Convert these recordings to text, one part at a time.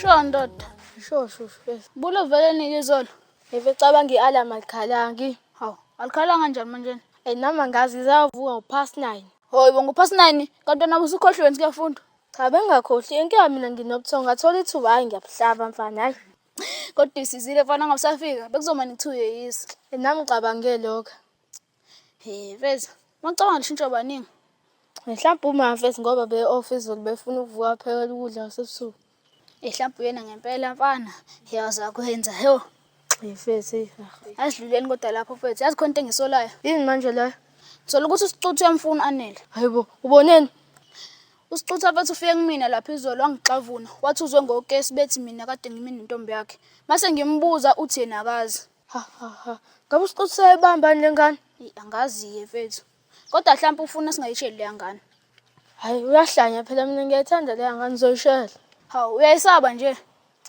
Sho ndoda, sho sho sho. Bulo vele nike izolo. Eve cabanga i-alarm alikhalangi. Hawu, alikhalanga kanjani manje? Ey nami angazi zavuka upast 9. Hoy bo ngupast 9 kanti wena usukhohliwe nje kuyafunda. Cha bengakhohli inkinga mina nginobuthongo ngathola ithuba hayi ngiyabuhlaba mfana hayi. Kodwa isizile mfana ngabusafika bekuzomane kuthiwe yeyisa. Nami ngicabangele lokho. Eh mfethu, mawucabanga lishintsha baningi. Mhlawumbe uma mfethu ngoba be off izolo befuna ukuvuka phekela ukudla kwasebusuku. Eh mhlawumbe uyena ngempela mfana. Yazi akwenza. Yo. Eh mfethu. Asidluleni kodwa lapho mfethu. Yazi khona into engisolayo. Yini manje leyo? Ngisola ukuthi usicuthi uyamfuna anele. Hayibo, uboneni? Usicutha mfethu ufike kumina lapha izolo wangixavuna. Wathi uzwe ngokesi bethi mina kade ngimi nentombi yakhe. Mase ngimbuza uthi yena akazi. Ha ha ha. Ngabe usiqothi sayibambani lengane? Eyi, angazi-ke mfethu kodwa hlampe ufuna singayisheli leya ngane Hayi uyahlanya phela mina ngiyayithanda leya ngane uzoyishela. hawu uyayisaba nje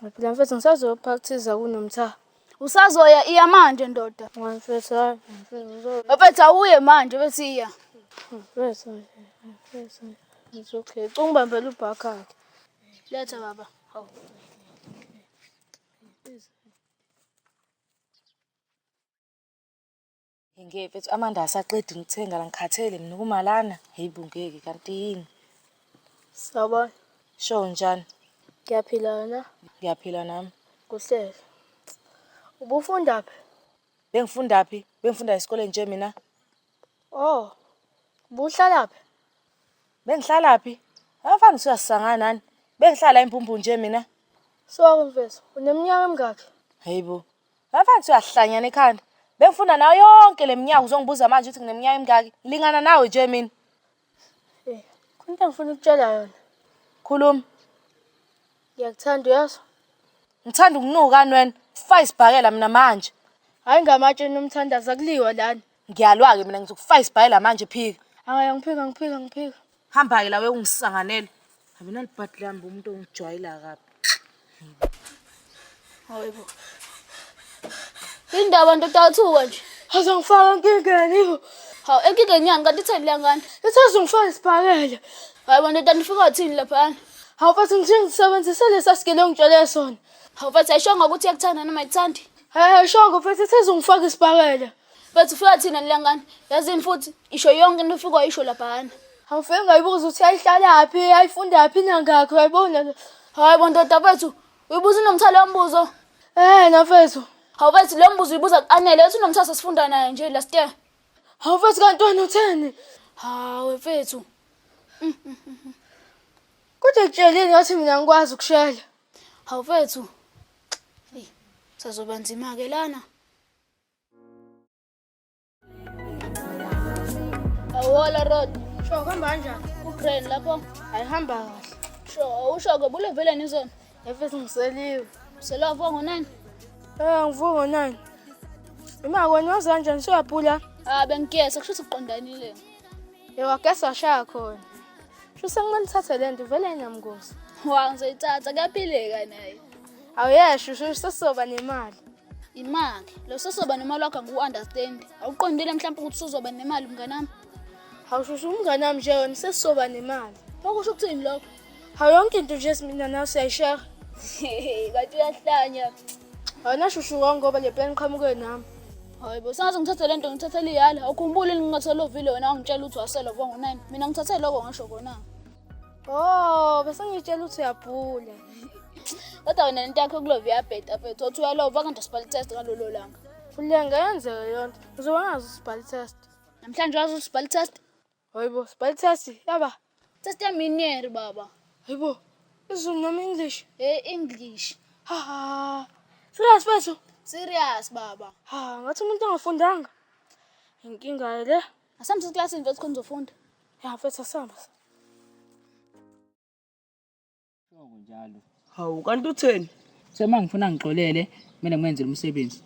Hayi phela mfethu ngisazoyophakuthiza kunomtha. usazoya iya manje ndoda Hayi mfethu hayi mfethu uzo- bafethu awuye manje bethi iya mfethu hayi, hayi, mfethu hayi. It's okay. Cunga ubambela ubhakakhe. letha baba hawu Ngeke mfethu amanda asaqedi ngithenga la ngikhathele mina ukuma lana. Hhayi bo ngeke kanti yini? Sawubona. Sho njani? Ngiyaphila wena? Ngiyaphila nami. Kuhlele. Ubufunda phi? Bengifunda phi? Bengifunda esikoleni nje mina. Oh. Ubuhlala phi? Bengihlala phi? Abafana usuyasangana nani? Bengihlala impumpu nje mina. Sorry mfethu, uneminyaka emingakhi? Hayibo. Abafana usuyahlanyana ekhanda. Bengifunda nayo yonke leminyaka uzongibuza manje ukuthi ngineminyaka emingaki. Ngilingana nawe nje mina. Eh, khona into engifuna ukutshela yona. Khuluma. Ngiyakuthanda uyazi? Ngithanda ukunuka wena. Fayisibhakela mina manje. Hayi ngamatshe nomthandaza kuliwa lana. Ngiyalwa-ke mina ngizokufaka isibhayela manje phika. Hhayi angiphika angiphika angiphika. Hamba-ke la wekungisanganela. Habi nalibhadi lami bo umuntu ongijwayela kabi. Hayibo. Yini ndaba ndoda yathuka nje? Haze ngifaka enkingeni bo. Hawu enkingeni yani kanti itheni leya ngane? Ithaze ngifaka isibhakela. Hayibo ndoda nifika wathini laphana? Hawu bathi ngithe ngisebenzise lesa sigele ongitshele sona. Hawu mfethu ayishongo ukuthi iyakuthanda noma ayikuthandi. Hhayi ayishongo mfethu ithaze ngifaka isibhakela. Bathi ufika thina nilangani. Yazini futhi isho yonke into ufika wayisho laphana. Awufike ngayibuza ukuthi ayihlalaphi, ayifundaphi nangakho yayibona le. Hayi bo ndoda bethu, uyibuza unomthalo wombuzo. Eh nafethu. Hawu bethu lo mbuzo uyibuza kuanele, uthi unomthalo sesifunda naye nje last year. Hawu mfethu kanti wena utheni? Hawu mfethu. Kodwa kutshelini ngathi mina ngikwazi ukushela. Hawu mfethu. Eyi, sazoba nzima ke lana. Awala road. Sho kuhamba kanjani? Ukraine lapho ayihamba kahle. Sho awusho ke bule vele nizona. Efes ngiseliwe. Selwa vo ngo9. Eh ngivu ngo9. Ima kwenye wazi kanjani siyaphula? Ah bengigesa kusho ukuthi uqondanile. Yewa gesa washaya khona. Sho sengimane thathe lento vele inamngozi. Wa ngizoyithatha kuyaphileka naye. Awuyesho sho sesizoba nemali. Imali. Lo sosoba nemali wakho ngiwu-understand. Awuqondile mhlawumbe ukuthi usuzoba nemali mnganami. Hawushusha umnganami nje wena sesizoba nemali. Okusho ukuthini lokho? Hawu yonke into nje simina nawe siyayishare. Kanti uyahlanya. Wena shushu wonke ngoba le plan qhamuke nami. Hayi bo sangaze ngithathe lento ngithathe liyala. Awukhumbuli ngingathola ovile wena wangitshela ukuthi wasela vongo 9. Mina ngithathe lokho ngisho kona. Oh, bese ngitshela ukuthi uyabhula. Kodwa wena lento yakho kulova iyabheda mfethu. Othi uyalova kanti usibhali test ngalolo langa. Fulela ngayenzeka yonto. Uzoba ngazi usibhali test. Namhlanje wazi usibhali test? Hayibo, sibhali test. Yaba. Test ya minier baba. Hayibo. Izulu noma English? Eh English. Ha ha. Serious mfethu? Serious baba. Ha, ngathi umuntu ongafundanga. Inkinga le. Asambe siklasini mfethu khona uzofunda. Ya mfethu asamba. Shoko njalo. Hawu kanti utheni? Sema ngifuna ngixolele kumele ngwenze lo msebenzi.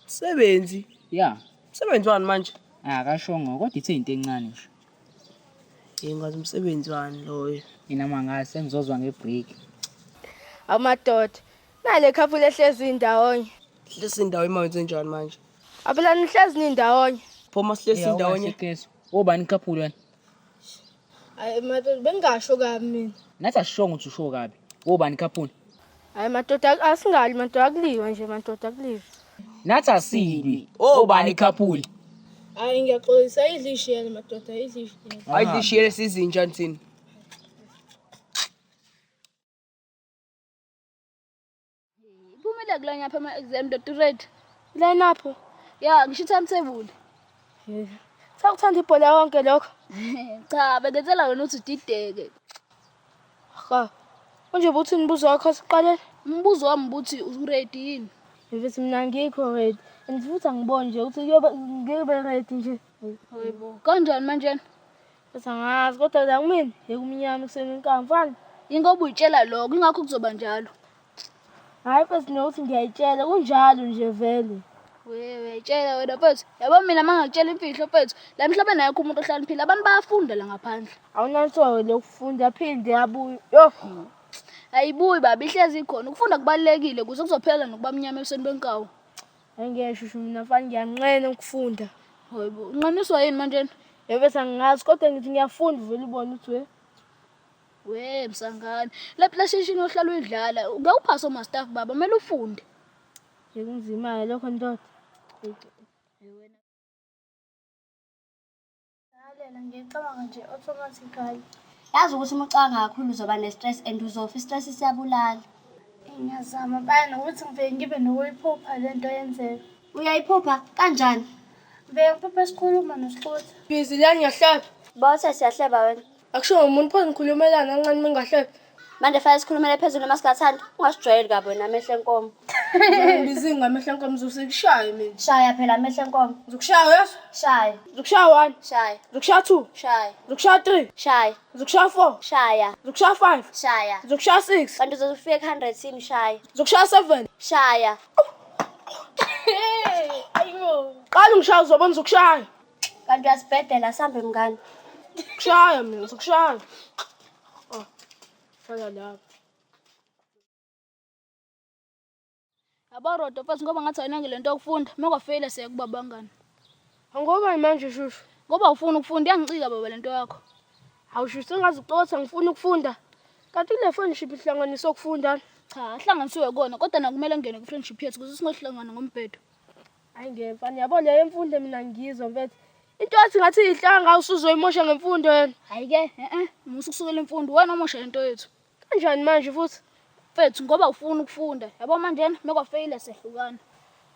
Sebenzi. Ya. Sebenzi wani manje? Akashongo kodwa ithe into encane nje. Yengazi umsebenzi wani loyo. Mina mangazi sengizozwa ngebreak. Awumadoda Nale couple ehlezi ndawonye. Lesi ndawo imali zenjani manje? Abela nihlezi nindawonye. Phoma sihlezi ndawonye. Keso. Obani couple wena? Hayi madoda bengasho kabi mina. Nathi asishongo ukuthi usho kabi. Obani couple? Hayi madoda asingali madoda akuliwa nje madoda akuliwa. Nathi asibi. Obani couple? Hayi ngiyaxolisa idlishiyele madoda idlishiyele. Hayi idlishiyele sizinja ntsini. Iphumile kula nyapha ama-exam ndoda uready. Line up. Ya ngisho i-timetable. Sakuthanda ibhola yonke lokho. Cha bengenzela wena ukuthi udideke. Cha. Unje buthi nibuzo wakho siqale. Umbuzo wami ukuthi uready yini? Mfethu mina ngikho ready. And futhi angiboni nje ukuthi kuyobe ngiyobe ready nje. Hayibo. Kanjani manje? Kodwa ngazi kodwa la kumina yekumnyama ekuseni inkamba mfana. Ingoba uyitshela lokho ingakho kuzoba njalo. Hayi mfethu nokuthi ngiyayitshela kunjalo nje vele. Wewe uyayitshela wena mfethu. Yabo mina mangakutshela imfihlo mfethu. La emhlabeni ayikho umuntu ohlaniphile abantu bayafunda la ngaphandle. Awunansoyo lokufunda phinde yabuya. Yo. Ayibuyi baba ihlezi ikhona. Ukufunda kubalekile kuze kuzophela nokuba mnyama ebusweni benkawu. Angiyesho usho mina mfana ngiyanqena ukufunda. Hayibo, unqaniswa yini manje? Yebo sangazi kodwa ngithi ngiyafunda uvela ubona ukuthi we. We msangane, le PlayStation ohlala uyidlala, ngeke uphase oma staff baba, kumele ufunde. Ngikunzima lokho ndoda. Lalela nje cabanga nje automatically. Yazi ukuthi uma ucabanga kakhulu uzoba ne-stress and uzofa i-stress siyabulala. Ngiyazama baya nokuthi ngivele ngibe nokuyiphupha le nto yenzeka. Uyayiphupha kanjani? Ngivele ngiphuphe sikhuluma nosixutha. Busy la ngiyahleba. Bose siyahleba wena. akusho ngomuntu pho nikhulumelana kancane mengahlebe manje fanele sikhulumele phezulu noma singathanda ungasijwayeli kabi wena amehlo enkomo bizinga amehlo enkomo zosekushaye mina shaya phela amehlo enkomo zokushaya uyasho shaya zokushaya one shaya zokushaya two shaya zokushaya three shaya zokushaya four shaya zokushaya five shaya zokushaya six kanti uzofika ku-hundred yini shaya zokushaya seven shaya ayibo qala ungishaya uzobona zokushaya Kanti uyasibhedela sambe mngani. Kushaya mina, sikushaya. Oh, faka lapho. Yabo Rodo mfazi ngoba ngathi ayinange lento yokufunda. Uma kwafeyila siyakuba bangani. Angoba manje shushu. Ngoba ufuna ukufunda iyangicika baba lento yakho. Awusho sengazi uxoxa ngifuna ukufunda. Kanti le friendship ihlanganisa ukufunda. Cha, ahlanganisiwe kona kodwa nakumele ngene kwi-friendship yethu kuze singohlangana ngombhedo. Hayi ngiyemfana yabo leyo imfundo mina ngizwa mfethu. Into yathi ngathi ihlanga usuzoyimosha ngemfundo yena. Hayi ke eh eh musa ukusukela imfundo wena omosha into yethu. Kanjani manje futhi? Mfethu ngoba ufuna ukufunda. Yabo manje mekwa fail sehlukana.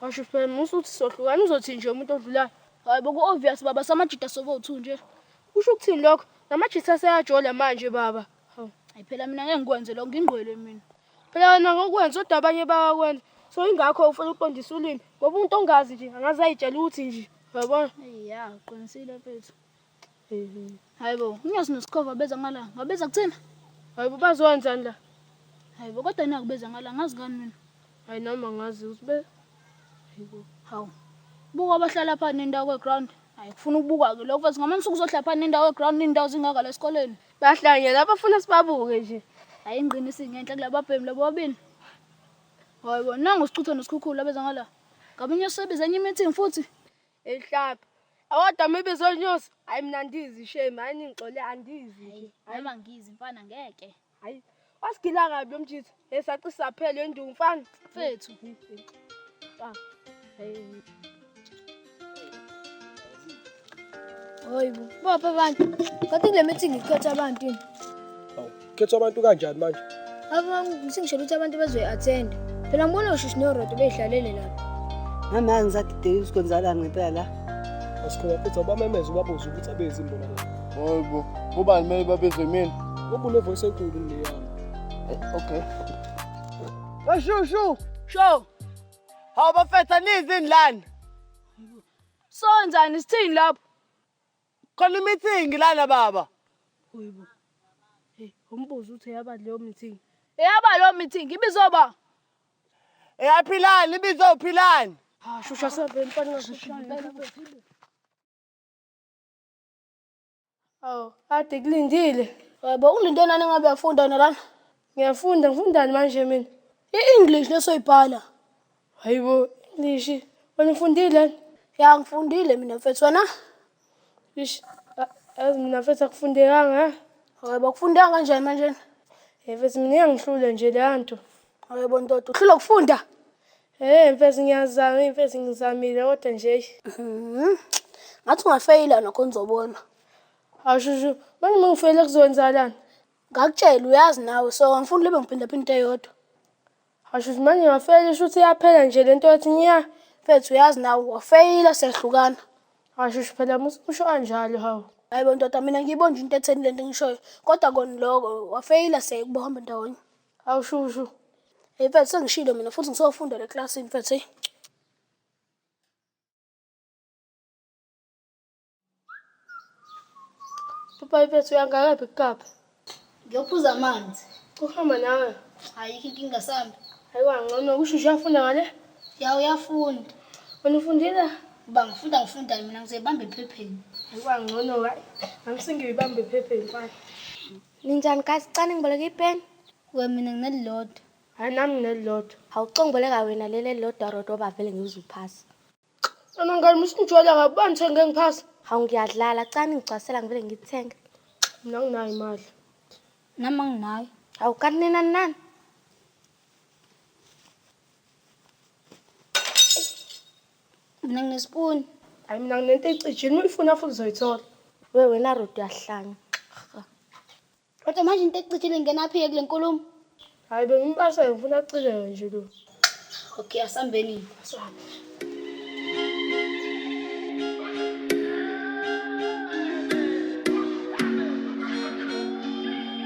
Washo phela musa uthi sohlukana uzothi nje umuntu odlulayo. Hayi boku obvious baba samajita sobo uthu nje. Usho ukuthini lokho? Namajita seyajola manje baba. Hayi phela mina ngeke ngikwenze lokho ngingqwele mina. phela wena ngokwenza kodwa abanye bayakwenza so ingakho ufuna ukuqondisa ulimi ngoba umuntu ongazi nje angaze ayitshela ukuthi nje uyabona ya uqinisile mfethu hayi bo unyazi nosikhova beza ngala ngabeza kuthina hayi bo bazokwenzani la hayi bo kodwa nakubeza ngala ngazi ngani mina hayi nami angazi ukuthi be hayi bo hawu buka abahlala phana nendawo kweground hayi kufuna ukubuka-ke lokho mfethu ngamanye usuku uzohlala phana nendawo kweground iy'ndawo zingaka la esikoleni Bahlangene abafuna sibabuke nje. Hayi ingqini isingenhla kulabo babhemi labo bobini. Hayi bona nangu sichutha nosikhukhulu abeza ngala. Ngabe inyosi sebiza enye meeting futhi. Ehlapha. Awodwa mibizo inyosi. Hayi mina andizi shame, hayi ningixole andizi. Hayi noma ngizi mfana ngeke. Hayi Wasigila kabi lo mjitha. Hey saci saphela enduku mfana. Mfethu. Ah. Hey. Hoyibo, bopha abantu. Kanti kule meeting ikhetha abantu yini? Hawu, khetha abantu kanjani manje? Aba ngisingishela ukuthi abantu bazoyi-attend. Phela ngibona ushishi norodo beyidlalele lapha. Mama yangisadideki ukuthi kwenzakala ngempela la. Asikhona futhi awubamemeza ubabuze ukuthi abezi imbona la. Hoybo, kuba kumele babizwe imini. Kuba une voice enkulu le yami. Eh, okay. Bashu shu. Sho. Hawu bafetha nizini lana. So njani sithini lapho? Khona meeting lana baba. Hoybo. Hey, umbuzo uthi yaba leyo meeting. Eyaba leyo meeting ibizwa ba. Eyaphilani ibizwa uphilani. Ah, shusha sebhe mfana ngashusha. Awu, kade kulindile. Yebo ulinto enani ngabe uyafunda wena lana. Ngiyafunda, ngifundani manje mina? I-English lesoyibhala. Hayibo, English. Wena ufundile? Ya ngifundile mina mfethu wena. Ish, a- yazi mina mfethu akufundekanga. eh? Yebo kufundeka kanjani manje? Eh mfethu mina iyangihlula nje leya nto. Yebo ndoda, uhlulwa ukufunda. Hey mfethu ngiyazama mfethu ngizamile kodwa nje eish. Mhm. Ngathi ungafeyila nokho nizobona. Awushushu manje uma ngifeyile kuzokwenzakalani? Ngakutshela uyazi nawe so angifuni libe ngiphinda phinda into eyodwa. Awushushu manje ngafeyila shuthi iyaphela nje lento yathi nya. Mfethu uyazi nawe wafeyila siyahlukana. Awushushu phela musa usho kanjalo hawu. Hayibo ndoda mina ngiyibona nje into etheni lento engishoyo. Kodwa kona lokho wafeyila siyakuba hamba ndawonye. Hawu shushu. Hey mfethu sengishilo mina futhi ngisofunda le class mfethu. Hey. Papa mfethu uyangakaphi kukaphi? Ngiyophuza amanzi. Uhamba nawe. Ayikho inkinga sambe. Hayiwa ngcono kusho uyafunda ngale? Ya uyafunda. Wena ufundile? Uba ngifunda ngifunda mina ngizebamba ephepheni. Hayiwa ngcono hayi. Angisingiyoyibamba ephepheni mfana. Ninjani guys, cani ngiboleka ipeni. We mina nginelilodwa. Hayi nami nginelilodwa. Hawuxo ngiboleka wena leli elilodwa rodo bavele ngiwuze uphasa. Ana ngani musinjwala ngabani thenge ngiphasa. Hawu ngiyadlala, cani ngigcwasela ngivele ngithenge. Mina nginayo imali. Nami anginayo. Hawu kanti nina nani? Mina nginespoon. Hayi mina nginento ecijini uyifuna futhi uzoyithola. We wena Ruth uyahlanya. Kodwa manje into ecijile ngena phi kule nkulumo? Hayi bengimbasha ngifuna acijeke nje lo. Okay, asambeni. Asambeni.